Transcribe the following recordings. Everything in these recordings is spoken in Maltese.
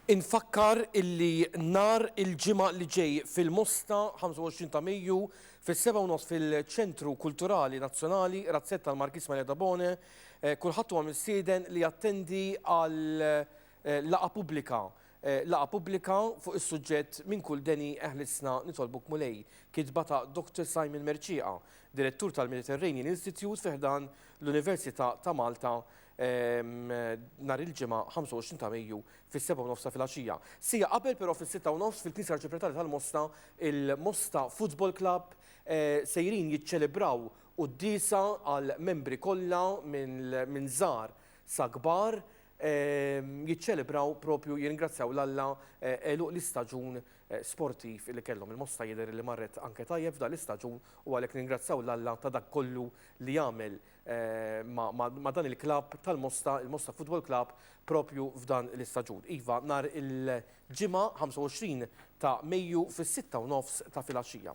Infakkar illi nhar il-Ġimgħa li ġej fil-Mosta 25 ta' Mejju fis-seba' u nofs fil-Ċentru Kulturali Nazzjonali Razzetta l-Markiż Maria Dabone eh, kulħadd huwa mistieden li jattendi għal eh, laqa pubblika Laqgħa pubblika fuq is-suġġett Minn kull deni eħlisna nitolbuk Mulej, kitba ta' Doctor Simon Mercieqa, Direttur tal-Mediterranean Institute fi ħdan l-Università ta' Malta nhar il-Ġimgħa 25 ta' Mejju fis-sebgħa u nofs ta' filgħaxija. Siegħa qabel però fis-sitta u nofs fil-Knisja Arċipretarja tal-Mosta, il-Mosta Football Club sejrin jiċċelebraw quddiesa għall-membri kollha minn żgħar sa kbar jiċċelebraw propju jirringrazzjaw 'l Alla għeluq l-istaġun sportiv li kellhom. Il-mosta jidher li marret anke tajjeb f'dan l-istaġun u għalhekk nirringrazzjaw 'l Alla ta' dak kollu li għamel ma' dan il-klabb tal-Mosta, il-Mosta Football Club, propju f'dan l-istaġun. Iva, nhar il-Ġimgħa 25 ta' Mejju fis-sitta u nofs ta' filgħaxija.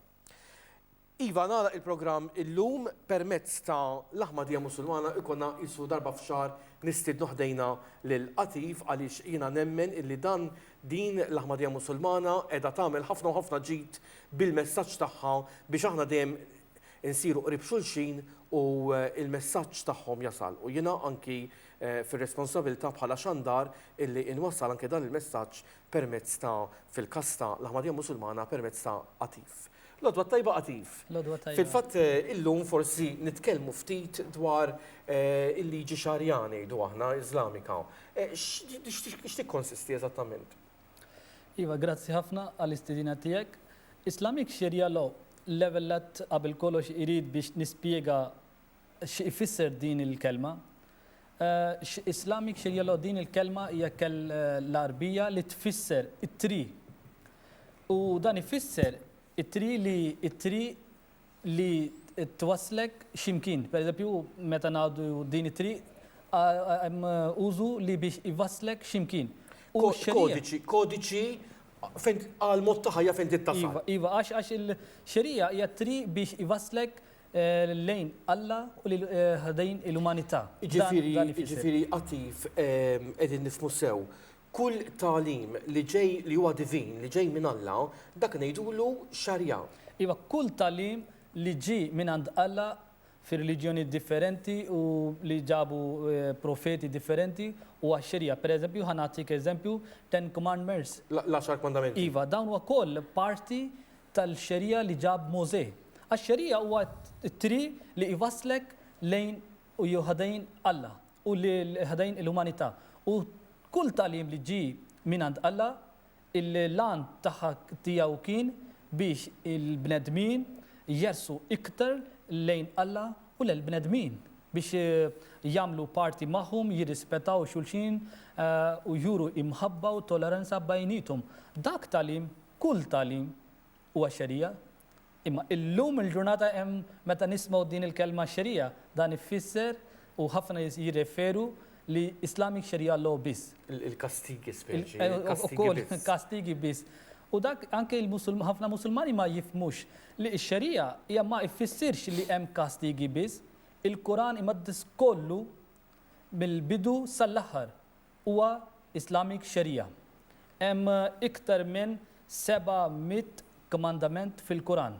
Iva, nagħlaq il-programm illum permezz ta' l-Aħmadija Musulmana jkollna qisu darba f'xahar nistiednu ħdejna lil Qatif għaliex jiena nemmen illi dan din l-Aħmadija Musulmana qiegħda tagħmel ħafna u ħafna ġid bil-messaġġ tagħha biex aħna dejjem insiru qrib xulxin u l-messaġġ tagħhom jasal u jiena anki fir-responsabilità bħala xandar illi inwassal anke dan il-messaġġ permezz ta' fil-każ ta' l-Ahmadija Musulmana permezz ta' Atif. L-għodwa t-tajba Atif. L-għodwa t-tajba. Fil-fatt illum forsi nitkellmu ftit dwar il-liġi Xarija ngħidu aħna, Iżlamika. X'tikkonsisti eżattament? Iva, grazzi ħafna għall-istedina tiegħek. Islamic Sharia Law, l-ewwel nett qabel kollox irid biex nispjega X' ifisser din il kelma? X' Islamic x'jgħilu din il kelma hija kel l Għarbija li tfisser it triq u dan ifisser it triq li it triq li twasslek xi mkien. Per eżempju meta ngħidu din it triq hemm użu li biex iwasslek xi mkien. U x' Kodiċi, kodiċi fejn għal mod ta' ħajja fejn trid tasal. Iva, iva għax għax il xerija hija t triq biex iwasslek lejn Alla u lil din il-umanità. Jiġifieri Għatif, qegħdin nifhmu sew, kull tagħlim li ġej li huwa divin, li ġej minn Alla, dak ngħidulu Xarjah. Iva, kull tagħlim li ġie minn għand Alla fir-reliġjonijiet differenti u li ġabu profeti differenti huwa Xerjah. Pereżempju, ħa nagħtik eżempju, Ten Commandments. L-Għaxar Kmandamenti. Iva, dawn ukoll parti tal-xeriegħa li ġab Mosè. Għax-xeriegħa huwa t-triq li jwasslek lejn u ħdejn Alla u lil ħdejn il-umanità. U kull tagħlim li ġie mingħand Alla, il-għan tagħha tiegħu kien biex il-bnedmin jersqu iktar lejn Alla u l-bnedmin, biex jagħmlu parti magħhom, jirrispettaw xulxin u juru imħabba u toleranza bejniethom. Dak tagħlim Kull tagħlim huwa xerija. Imma illum il-ġurnata hemm meta nismgħu din il-kelma xerija, dan ifisser u ħafna jirreferu li Islamic Sharia Law biss. Il-kastigi speċi, il-kastigi biss. Ukoll kastigi biss. U dak anke ħafna Musulmani ma jifhmux li x-xerija hija ma ifissirx li hemm kastigi biss. Il-Quran imaddis kollu mill-bidu sal-aħħar. Huwa Islamic Sharia. Hemm iktar minn seba' mitt kmandament fil-Kuran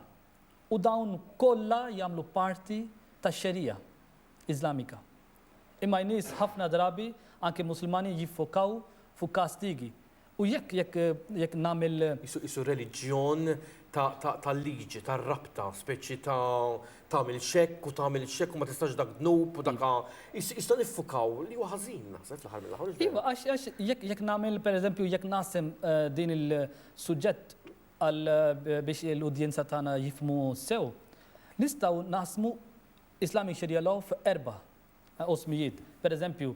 u dawn kollha jagħmlu parti tax-Sharia Iżlamika. Imma n-nies ħafna drabi, anki Musulmani, jiffokaw fuq kastigi U jekk, jekk, jekk nagħmel. Qisu, qisu reliġjon ta', ta', tal-liġi, tar-rabta, speċi ta' tagħmel x'hekk u tagħmel x'hekk u ma tistax dak dnub u dak, qisu, qisna niffukaw li huwa ħażin naħseb fl-aħħar mill-aħħar, mhux vera? Iva, għax, għax jekk, jekk nagħmel pereżempju jekk naqsem din il-suġġett għal biex l-udjenza tagħna jifhmu sew, nistgħu naqsmu Islamic Sharia Law f'erbgħa, u smijiet, per eżempju,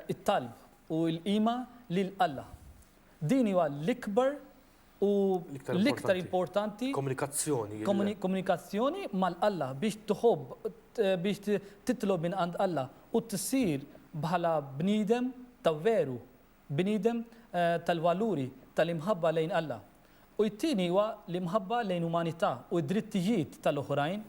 it-talb u l-qima lil Alla. Din hija l-ikbar u l-iktar importanti komunikazzjoni mal Alla biex tħobb, biex titlob minn għand Alla u tsir bħala bniedem ta' veru, bniedem tal-valuri tal-imħabba lejn Alla. U t-tieni huwa l-imħabba lejn umanità u d-drittijiet tal-oħrajn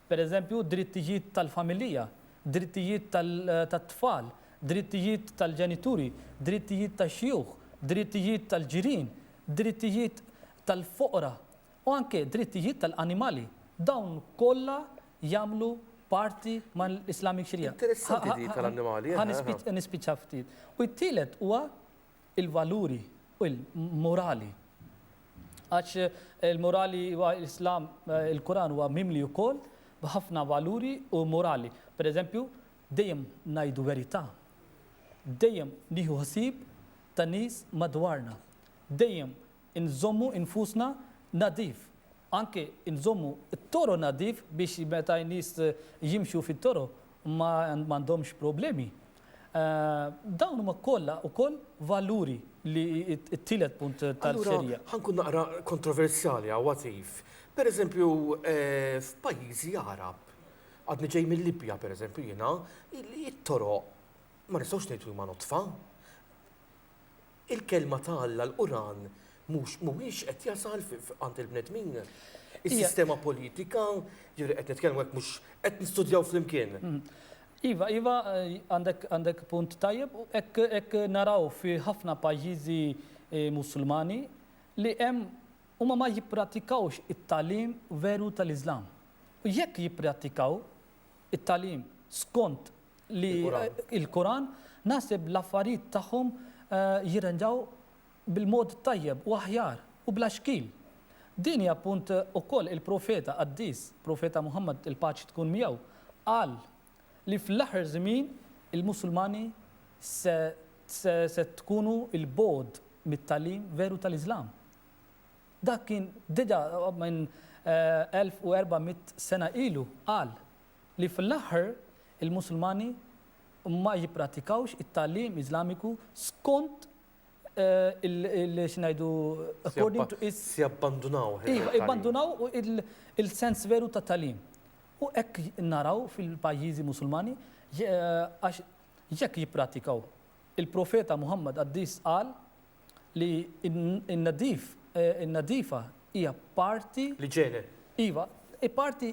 per eżempju, drittijiet tal-familija, drittijiet tat-tfal, drittijiet tal-ġenituri, drittijiet tax-xjuħ, drittijiet tal-ġirien, drittijiet tal-foqra, u anke drittijiet tal-animali. Dawn kollha jagħmlu parti mal-Islamic Sharia. Interessanti din tal-annimali, eħe, eħe. Ħa nispiċċa ftit. U t-tielet huwa il-valuri morali għax il-morali huwa l-Islam il-Quran huwa mimli wkoll b'ħafna valuri u morali. Pereżempju, dejjem ngħidu verità, dejjem nieħu ħsieb tan-nies madwarna, dejjem inżommu nfusna nadif, anke nżommu t-toroq nadif biex meta n-nies jimxu fit-toroq ma għandhomx problemi Dawn huma kollha wkoll valuri li t-tielet punt tal-ferja. Allura, ħa nkun naqra kontroversjali hawn għatif. Pereżempju, f'pajjiżi Għarab, għadni ġej mil-Libja pereżempju jiena, it-toroq ma nistgħux ngħidu li huma nodfa. il-Kelma ta' Alla, l-Quran, mhux mhuwiex qed jasal għand il-bnedmin. Is-sistema politika, jiġifieri qed nitkellmu hekk mhux qed nistudjaw flimkien. Iva, iva, għandek punt tajjeb, hekk naraw fi ħafna pajjiżi eh, Musulmani li hemm huma ma jipprattikawx it-tagħlim veru tal-Iżlam. U jekk jippratikaw it-tagħlim skont li il-Quran naħseb l-affarijiet tagħhom jirranġaw bil-mod tajjeb u aħjar u bla xkiel. Din hi appunt ukoll il-Profeta qaddis, Profeta Muħammad il-paċi tkun miegħu, qal li fl-aħħar żmien il-Musulmani se se tkunu il-bogħod mit-tagħlim veru tal-Iżlam. Dak kien diġà minn 1400 sena ilu qal li fl-aħħar il-Musulmani ma jipprattikawx it-tagħlim Iżlamiku skont il, xi ngħidu, according to its. Se jabbandunawh il-tagħlim. Iva, jibbandunaw il-sens veru tat-tagħlim. U hekk naraw fil-pajjiżi Musulmani għax jekk jipprattikaw. Il-Profeta Muħammad qaddis qal Li n-nadif, in-nadifa hija parti. L-iġene. Iva, hi parti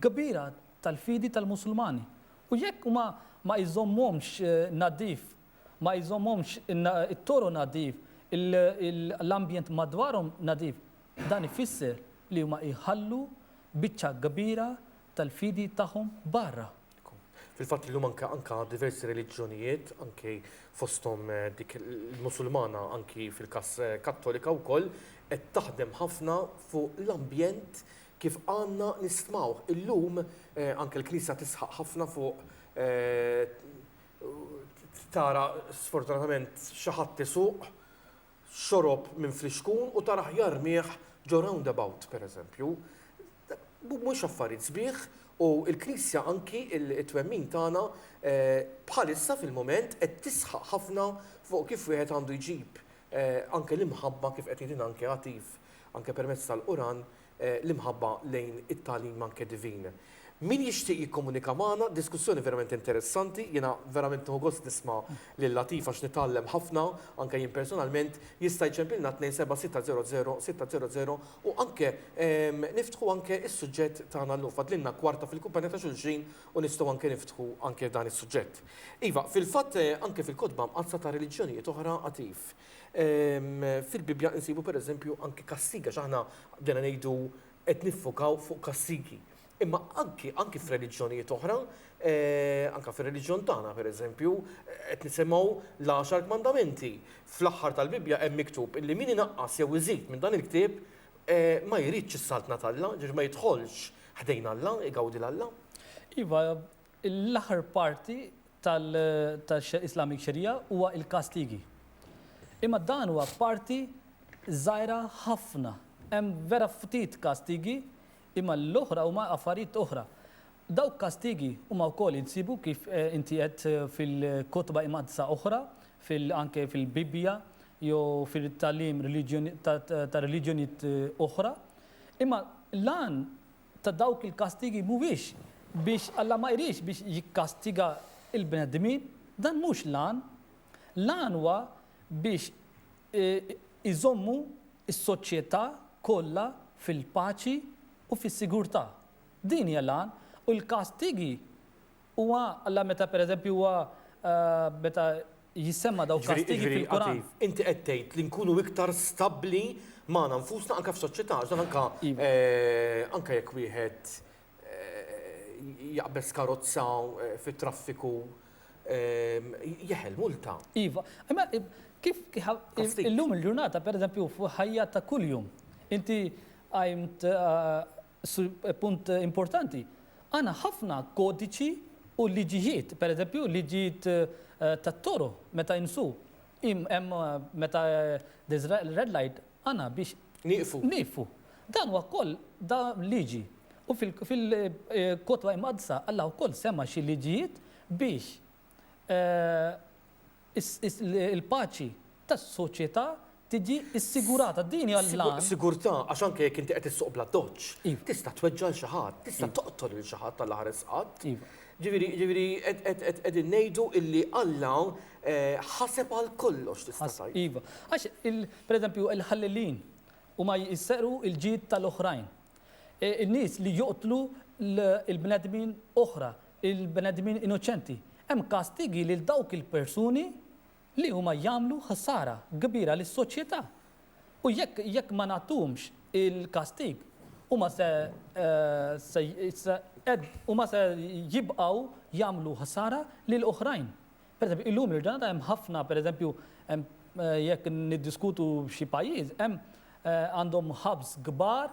kbira tal-fidi tal-Musulmani. U jekk huma ma jżommuhomx nadif, ma jżommuhomx it-toroq nadif, l-ambjent madwarhom nadif, dan ifisser li huma jħallu biċċa kbira tal-fidi tagħhom barra. Fil-fatt illum anke anke diversi reliġjonijiet, anki fosthom dik il-Musulmana anki fil-każ Kattolika wkoll, qed taħdem ħafna fuq l-ambjent kif għandna nistmawh. Illum anke l-Knisja tisħaq ħafna fuq tara sfortunatament xi ħadd isuq, xorob minn flixkun u tara aħjar rmigħ ġo roundabout, pereżempju. Mhumiex affarijiet sbieħ u l-Knisja anki t-twemmin tagħna bħalissa fil-mument qed tisħaq ħafna fuq kif wieħed għandu jġib anke l-imħabba kif qed jgħidilna anke Għatif anke permezz tal-Quran l-imħabba lejn it-tagħlim anke divin. Min jixtieq jikkomunika magħna, diskussjoni verament interessanti, jiena verament nieħu gost nisma' lil Latif għax nitgħallem ħafna, anke jien personalment, jista' jċempilna 276006000 u anke niftħu anke s-suġġett tagħna llum. Fadlilna kwarta fil-kumpanja ta' xulxin u nistgħu anke niftħu anke dan is-suġġett. Iva, fil-fatt anke fil-kotba mqaddsa ta' reliġjonijiet oħra Għatif, Fil-Bibbja insibu pereżempju anki kastigi, għax aħna bdejna ngħidu qed niffokaw fuq kastigi. Imma anki anki f'reliġjonijiet oħra, anke fir-reliġjon tagħna pereżempju, qed nisimgħu l-għaxar kmandamenti. Fl-aħħar tal-Bibbja hemm miktub illi min inaqqas jew iżid minn dan il-ktieb ma jridx is-Saltna t'Alla, ġifieri ma jidħolx ħdejn Alla, igawdi 'l Alla. Iva, L-aħħar parti tal-Islamic Sharia huwa l-kastigi. Imma dan huwa parti żgħira ħafna. Hemm vera ftit kastigi, imma l-oħra huma affarijiet oħra. Dawk kastigi huma wkoll insibu kif inti għedt fil-kotba imqaddsa oħra, anke fil-Bibbja jew fit-tagħlim ta' reliġjonijiet oħra. Imma l-għan ta' dawk il-kastigi mhuwiex biex Alla ma jridx biex jikkastiga l-bnedmin, dan mhux l-għan. L-għan huwa biex iżommu s-soċjetà kollha fil-paċi u fis-sigurtà. Din hija l-għan u l-kastigi Huwa, Alla meta pereżempju huwa meta jissemma dawk kastigi fil-Quran. Jiġifieri, inti qed tgħid li nkunu iktar stabbli magħna nfusna anke f'soċjetà għax dan anke anke jekk wieħed jaqbeż karozza fit-traffiku jeħel multa. Iva, imma kif illum il-ġurnata pereżempju f'ħajja ta' kuljum inti qajmt Su, punt importanti. Għandna ħafna kodiċi u liġijiet, pereżempju liġijiet tat-toroq meta jinsu. Im, hemm meta there's red light għandna biex. Nieqfu. Nieqfu. Dan huwa wkoll da liġi. U fil, fil, Kotba Imqaddsa Alla wkoll semma xi liġijiet biex il-paċi tas-soċjetà tiġi ssigurata. Din hija l-għan. Sigurtà, għax anke jekk inti qed issuq bl-addoċċ, tista' tweġġa' lil xi ħadd, tista' toqtol lil xi ħadd Alla ħares qatt. Ġifieri, ġifieri qegħdin ngħidu illi Alla ħaseb għal kollox tista' tgħid. Iva. Għax pereżempju l-ħallelin huma jserqu l-ġid tal-oħrajn. In-nies li joqtlu l-bnedmin oħra il-bnedmin innoċenti. Hemm kastigi lil dawk il-persuni li huma jagħmlu ħsara kbira lis-soċjetà. U jekk jekk ma nagħtuhomx il-kastig, huma se se se qed huma se jibqgħu jagħmlu ħsara lil oħrajn. Pereżempju, illum il-ġurnata hemm ħafna, pereżempju, hemm jekk niddiskutu xi pajjiż, hemm għandhom hubs kbar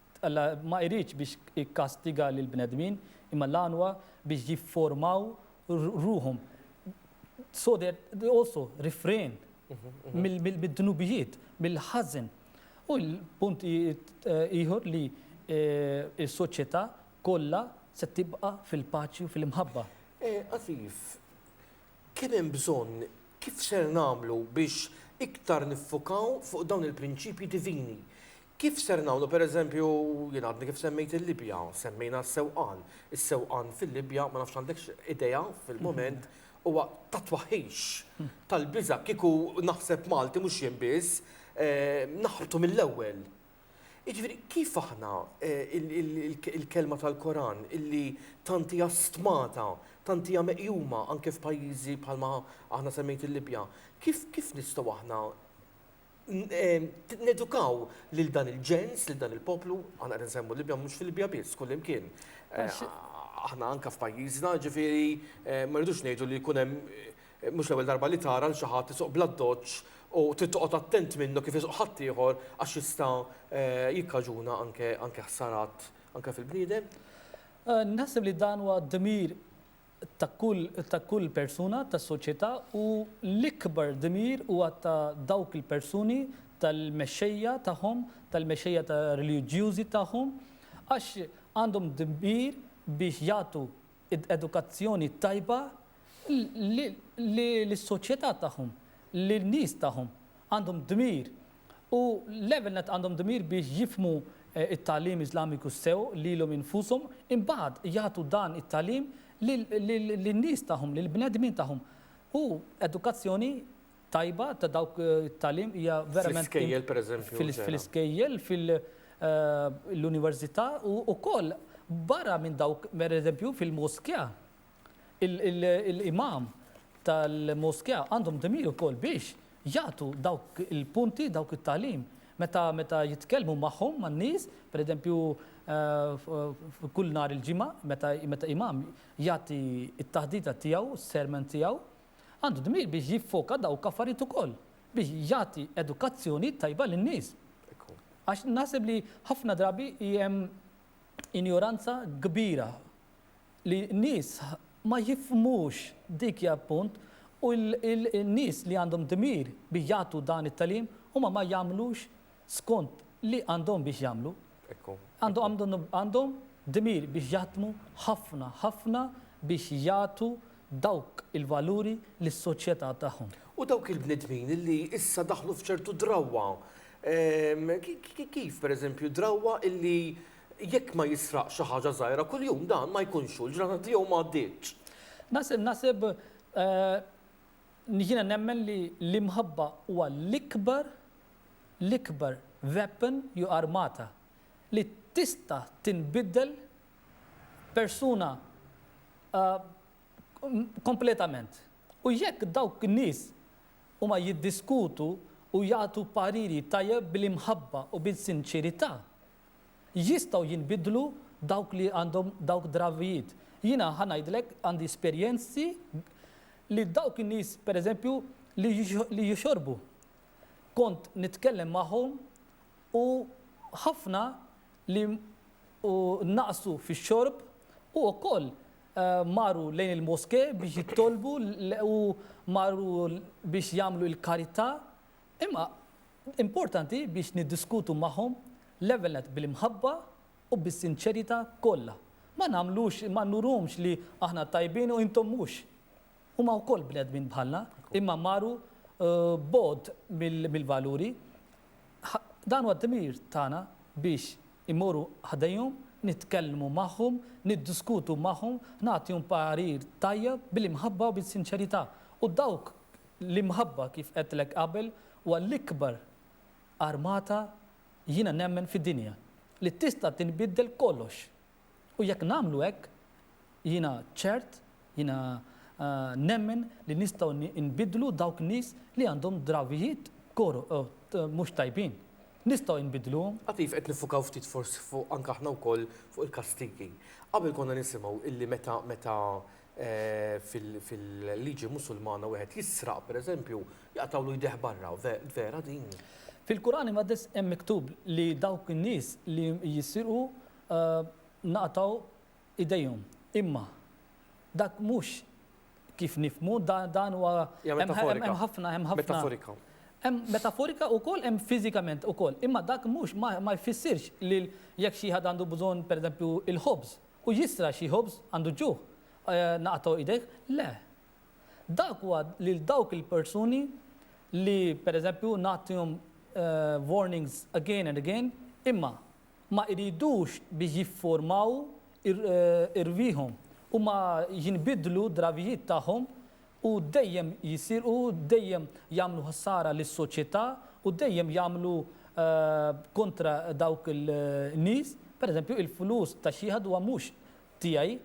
Alla ma jridx biex ikkastiga lill-bnedmin, imma l-għan huwa biex jifformaw ruħhom. So that they also refrain mid-dnubijiet, mill-ħażen. U l-punt ieħor li s-soċjetà kollha se tibqa' fil-paċi u fil-imħabba. Afif, kemm hemm bżonn, kif ser nagħmlu biex iktar niffukaw fuq dawn il-prinċipji divini? Kif ser nagħmlu, pereżempju, jien għadni kif semmejt il-Libja, semmejna s-sewqan. Is-sewqan fil-Libja, ma nafx għandekx idea fil-mument, huwa ta' twaħħix, tal-biża'. Kieku naħseb Malti, mhux jien biss, naħbtu mill-ewwel. Jiġifieri, kif aħna, il-kelma tal-Koran, illi tant hija stmata, tant hija meqjuma anke f'pajjiżi bħalma aħna semmejt il-Libja, kif nistgħu aħna nedukaw lil dan il-ġens, lil dan il-poplu, għana għedin semmu Libja mux fil-Libja biss, kull imkien. Eh, aħna anka f'pajjiżna, ġifiri, eh, ma rridux ngħidu li jkun hemm eh, mhux l-ewwel darba li tara l xi ħadd isuq bladdoċ u tittoqgħod attent minnu kif isuq ħadd ieħor għax jista' jikkaġuna anke ħsarat anke fil-bniedem. Naħseb li dan huwa d-dmir ta' kull ta' kull persuna tas-soċjetà u l-ikbar dmir huwa ta' dawk il-persuni tal-mexxejja tagħhom, tal-mexxejja ta' reliġjużi tagħhom, għax għandhom dmir biex jagħtu edukazzjoni tajba li lis-soċjetà tagħhom, lin-nies tagħhom. Għandhom dmir u l-ewwel nett għandhom dmir biex jifhmu t-tagħlim Iżlamiku sew lilhom infushom, imbagħad jagħtu dan it-tagħlim lin-nies tagħhom, lill-bnedmin tagħhom. U edukazzjoni tajba ta' dawk it-tagħlim hija verament Fl-iskejjel, pereżempju, eċċetera. Fl-iskejjel, fil-università u wkoll barra minn dawk, pereżempju, fil-moskea. Il-Imam tal-Moskea għandhom dmir ukoll biex jagħtu dawk il-punti, dawk it-tagħlim meta jitkellmu magħhom, man-nies, pereżempju kull nhar il-Ġimgħa meta Imam jagħti t-taħdita tiegħu, s-sermon tiegħu, għandu dmir biex jiffoka dawk affarijiet ukoll, biex jagħti edukazzjoni tajba lin-nies. Għax naħseb li ħafna drabi hemm injoranza kbira. li n-nies ma jifhmux dik hija l-punt u n-nies li għandhom dmir biex jagħtu dan it-tagħlim huma ma jagħmlux skont li għandhom biex jagħmlu. Għandhom dmir biex jaħdmu ħafna ħafna biex jagħtu dawk il-valuri lis-soċjetà tagħhom. U dawk il-bnedmin li issa daħlu f'ċertu drawwa, kif pereżempju drawwa li Jekk ma jisraqx xi ħaġa żgħira kuljum dan ma jkunx hu, l-ġranet tiegħu ma għaddietx. Naħseb, jiena nemmen li l-imħabba huwa l-ikbar, l-ikbar weapon jew armata li tista' tinbiddel persuna kompletament. U jekk dawk in-nies huma jiddiskutu u jagħtu pariri tajjeb bil-imħabba u bis-sinċerità, Jistgħu jinbidlu dawk li għandhom dawk drawijiet. Jiena ħa ngħidlek għandi esperjenzi li dawk in-nies pereżempju li li jixorbu kont nitkellem magħhom u ħafna li u naqsu fix-xorb u wkoll marru lejn il-moskè biex jitolbu u marru biex jagħmlu l-karità. Imma importanti biex niddiskutu magħhom l-ewwel nett bil-imħabba u bis-sinċerità kollha. Ma nagħmlux, ma nurhomx li aħna tajbin u intom mhux. Huma wkoll bnedmin bħalna, imma maru bogħod mill-valuri. Dan huwa d-dmir tagħna biex immorru ħdejhom, nitkellmu magħhom, niddiskutu magħhom, nagħtihom parir tajjeb bil-imħabba u bis-sinċerità. U dawk L-imħabba kif għedtlek qabel huwa l-ikbar armata jiena nemmen fid-dinja li tista' tinbiddel kollox u jekk nagħmlu hekk jiena ċert jiena nemmen li nistgħu nbiddlu dawk nies li għandhom drawijiet mhux tajbin. Nistgħu nbiddluhom. Għatif qed niffukaw ftit forsi fuq anke aħna wkoll fuq il-kastigi. Qabel konna nisimgħu illi meta meta fil-liġi Musulmana wieħed jisraq, pereżempju, jaqtgħulu jdejh barra. Vera din? Fil-Quran Imqaddes hemm miktub li dawk in-nies li jisirqu naqtgħu idejhom. Imma dak mhux kif nifhmu, dan huwa. Hija metaforika. Hemm ħafna, hemm ħafna. Metaforika. Hemm metaforika wkoll hemm fiżikament ukoll. Imma dak mhux ma jfissirx li jekk xi ħadd għandu bżonn, pereżempju, il-ħobż, U jisra' xi ħobż? Għandu ġuħ? Naqatgħu idejh? Le. Dak huwa lil dawk il-persuni li, per eżempju, nagħtihom warnings again and again, imma ma jridux biex jiffurmaw irwieħhom u ma jinbidlu d-drawijiet tagħhom U dejjem jisirqu, dejjem jagħmlu ħsara lis-soċjetà u dejjem jagħmlu kontra dawk il-nies. Per eżempju, il-flus ta' xi ħadd huwa mhux tiegħi,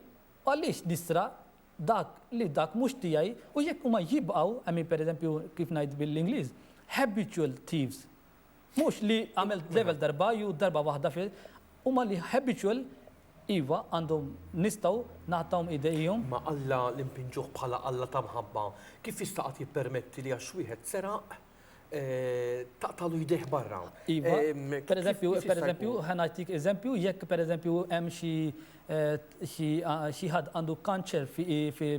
u għaliex nisraq dak li dak mhux tiegħi? U jekk huma jibqgħu, hemm min per eżempju, kif ngħid bil-Ingliż, habitual thieves, Mhux li għamilt level darba jew darba waħda fi huma li habitual iva għandhom nistgħu nagħtawhom idejhom. Ma Alla li npinġuh bħala Alla ta' mħabba kif jista' qatt jippermetti li għax wieħed seraq taqtagħlu jdejh barra? Iva, pereżempju, pereżempju, ħa ngħatik eżempju, jekk pereżempju hemm xi xi ħadd għandu kanċer fi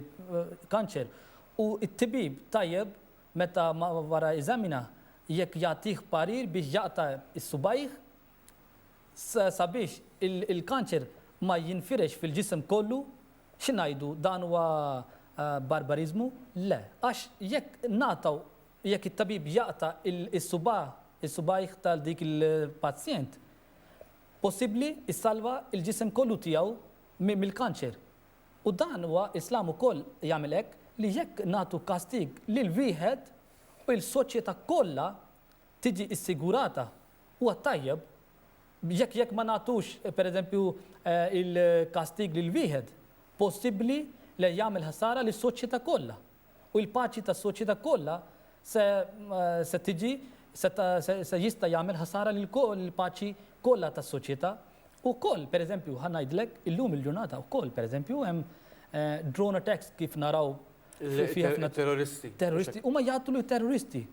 kanċer u t-tibib tajjeb Meta ma wara eżamina jekk jagħtih parir biex jaqta' s-subgħajh sabiex il-kanċer ma jinfirex fil-ġisem kollu, xi ngħidu, dan huwa barbariżmu? Le, għax jekk ngħataw, jekk it-tabib jaqta' s-subgħajh ta' dik il-pazjent, possibbli jsalva l-ġisem kollu tiegħu mill-kanċer. U dan huwa Islam ukoll jagħmel hekk li jekk nagħtu kastig lil wieħed u il-soċjeta kollha tiġi ssigurata huwa tajjeb jekk jekk ma nagħtux pereżempju il-kastig lil wieħed possibbli le jagħmel ħsara lis-soċjeta kollha. u l-paċi tas-soċjetà kollha se se tiġi se se jista' jagħmel ħasara lill-paċi kollha tas-soċjetà. U wkoll, pereżempju, ħa ngħidlek, illum il-ġurnata wkoll, pereżempju, hemm drone attacks kif naraw fi ħafna. Terroristi. Terroristi. Huma jqattlu terroristi.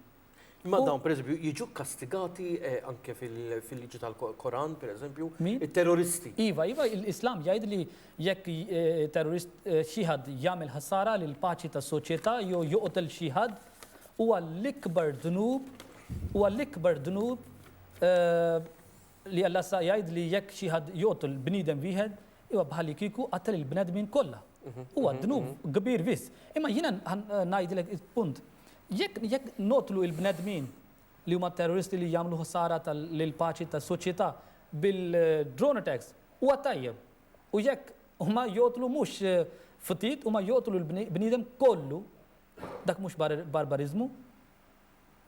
Imma dawn, per eżempju, jiġu kastigati eh, anke fil-liġi tal-Koran, per eżempju, il-terroristi. Iva, iva, l-Islam jgħid li jekk eh, terrorist eh, xieħad jagħmel ħassara l paċi tas soċjetà jew joqtel xieħad u għall-ikbar dnub u għall-ikbar dnub Li Alla issa jgħid li jekk xi ħadd joqtol bniedem wieħed, huwa bħalikieku qattel il-bnedmin kollha. Huwa dnub kbir biss. Imma jiena ngħidilek il-punt. Jekk jekk noqtlu l-bnedmin li huma t-terroristi li jagħmlu ħsara lill-paċi tas-soċjetà bil-drone attacks, huwa tajjeb. U jekk huma joqtlu mhux ftit, huma joqtlu l-bniedem kollu, dak mhux barbariżmu?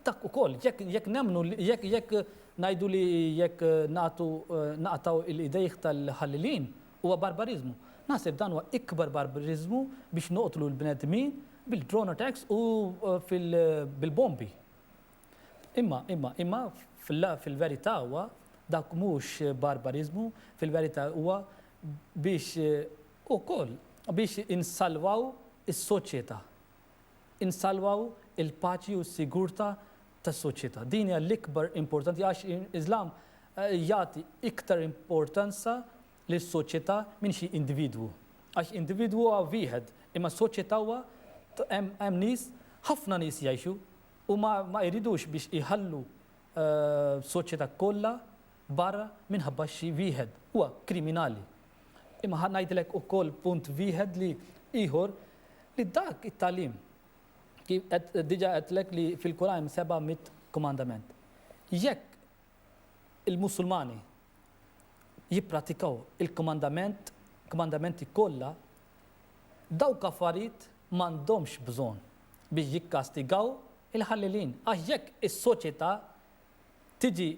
Dak ukoll, jekk jekk nemmnu li jekk jekk ngħidu li jekk nagħtu naqtgħu l-idejh tal-ħallilin huwa barbariżmu. Naħseb dan huwa ikbar barbariżmu biex noqtlu l-bnedmin bil-drone attacks u fil bil-bombi. Imma imma imma fil-verità huwa dak mhux barbariżmu, fil-verità huwa biex ukoll biex insalvaw is-soċjetà. insalwaw il-paċi u s-sigurtà tas-soċjetà. Din hija l-ikbar importanti għax l-Iżlam jagħti iktar importanza lis-soċjetà minn xi individwu. Għax individwu huwa wieħed, imma soċjetà huwa hemm nies, ħafna nies jgħixu u ma ma jridux biex iħallu soċjetà kollha barra minħabba xi wieħed huwa kriminali. Imma ħa ngħidlek ukoll punt wieħed li ieħor li dak it-tagħlim kif qed diġà għedtlek li fil-Kuran hemm seba' mitt kumandament. Jekk il-Musulmani jippratikaw il-kumandament kumandamenti kollha, dawk affarijiet m'għandhomx bżonn biex jikkastigaw il-ħallelin. Għax jekk is-soċjetà tiġi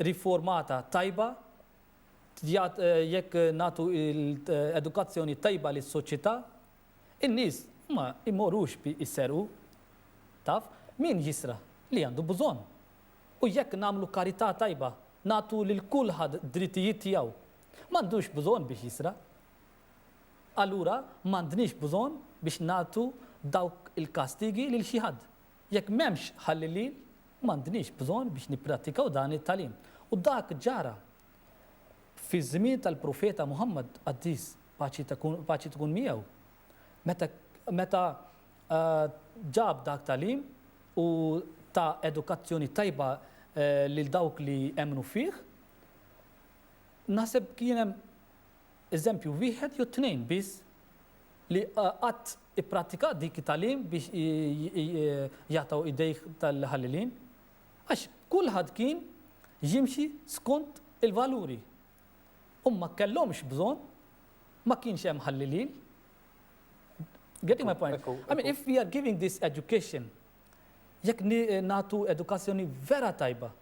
riformata tajba, Tjgħid jekk nagħtu edukazzjoni tajba lis-soċjetà, in-nies ma jmorrux jserqu. Taf, min jisraq? Li għandu bżonn. U jekk nagħmlu karità tajba, nagħtu lil kulħadd drittijiet tiegħu, m'għandux bżonn biex jisraq. Allura m'għandniex bżonn biex nagħtu dawk il-kastigi lil xi ħadd. Jekk m'hemmx ħallilin, m'għandniex bżonn biex nipprattikaw dan it-tagħlim. U dak ġara. Fiż-żmien tal-Profeta Muħammad, qaddis, paċi tkun miegħu, meta meta ġab dak tagħlim u ta edukazzjoni tajba lil dawk li emmnu fih, naħseb kien hemm eżempju wieħed jew tnejn biss li qatt ipprattika dik it-tagħlim biex jaqtgħu idejh tal-ħallelin, għax kulħadd kien jimxi skont il-valuri. Hum ma kellhomx bżonn, ma kienx hemm ħallelil. Getting my point? I mean, if we are giving this education, jekk nagħtu edukazzjoni vera tajba,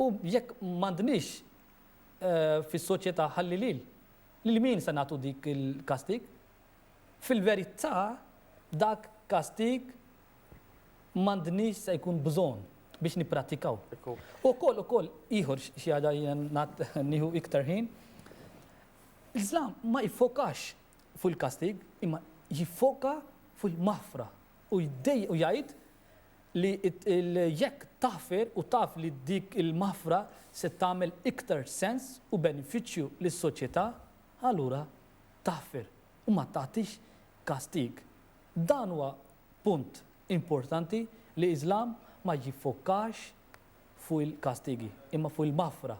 u jekk m'għandniex eh, fis-soċjetà ħallilil, Lil min se nagħtu dik il-kastig? Fil-verità, dak kastig m'għandniex se jkun bżonn biex nipprattikaw. Ukoll, ukoll, ieħor xi ħaġa jiena nieħu iktar ħin, l-Islam ma jiffokax fuq il-kastig, imma jiffoka fuq il-maħfra u jgħid li jekk taħfer u taf li dik il-maħfra se tagħmel iktar sens u benefiċċju lis-soċjetà, allura taħfer u ma tagħtix kastig. Dan huwa punt importanti li l-Iżlam ma jiffokax fuq il-kastigi, imma fuq il-maħfra.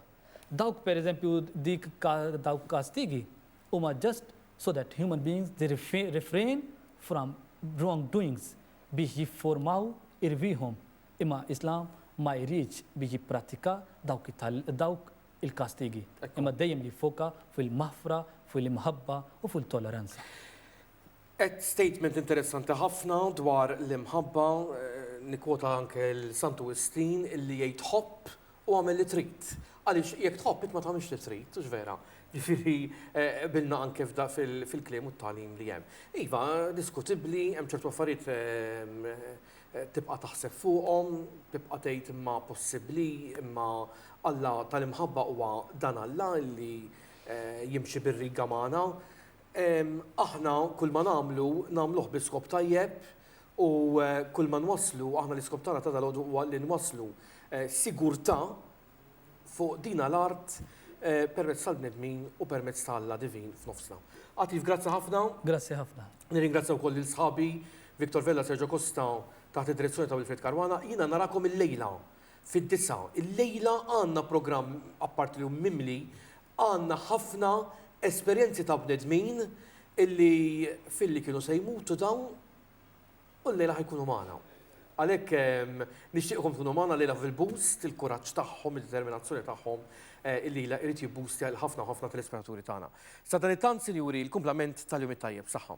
Dawk pereżempju dik dawk kastigi huma just so that human beings they refrain from wrongdoings biex jiffurmaw irwieħhom, imma Islam ma jridx biex jipprattika dawk il-kastigi, imma dejjem li jiffoka fuq il-maħfra, fuq l-imħabba u fuq it-toleranza. Għedt statement interessanti ħafna dwar l-imħabba, nikkwota anke 'l Santu Wistin illi jgħid ħobb u agħmel li trid. Għaliex jekk tħobb int ma tagħmilx li trid, hux vera? Jiġifieri qbilna anke fil-kliem u t-tagħlim li hemm. Iva, diskutibbli, hemm ċertu affarijiet tibqa' taħseb fuqhom, tibqa' tgħid imma possibbli, imma Alla tal-imħabba huwa dan Alla li jimxi bir-riga magħna. Aħna kulma nagħmlu, nagħmluh bi skop tajjeb u kulma nwasslu, aħna l-iskop tagħna ta' dalgħodu huwa li nwasslu sigurtà fuq dina l-art permezz tal-bnedmin u permezz ta' Alla divin f'nofsna. Għatif, grazzi ħafna. Grazzi ħafna. Nirringrazzja wkoll lil sħabi Victor Vella, Sergio Costa taħt id-direzzjoni ta' Wilfried Caruana. Jiena narakom illejla. Fid-disgħa. Illejla għandna programm apparti li hu mimli, għandna ħafna esperjenzi ta' bnedmin illi filli kienu se jmutu dawn u llejla ħa jkunu magħna. Għalhekk nixtieqkom tkunu magħna llejla fil-boost, il-kuraġġ tagħhom, id-determinazzjoni tagħhom illi jrid jibboostja lil ħafna u ħafna telespettaturi tagħna. Sadanittant, Sinjuri, l-kumplament tal-jum it-tajjeb. Saħħa.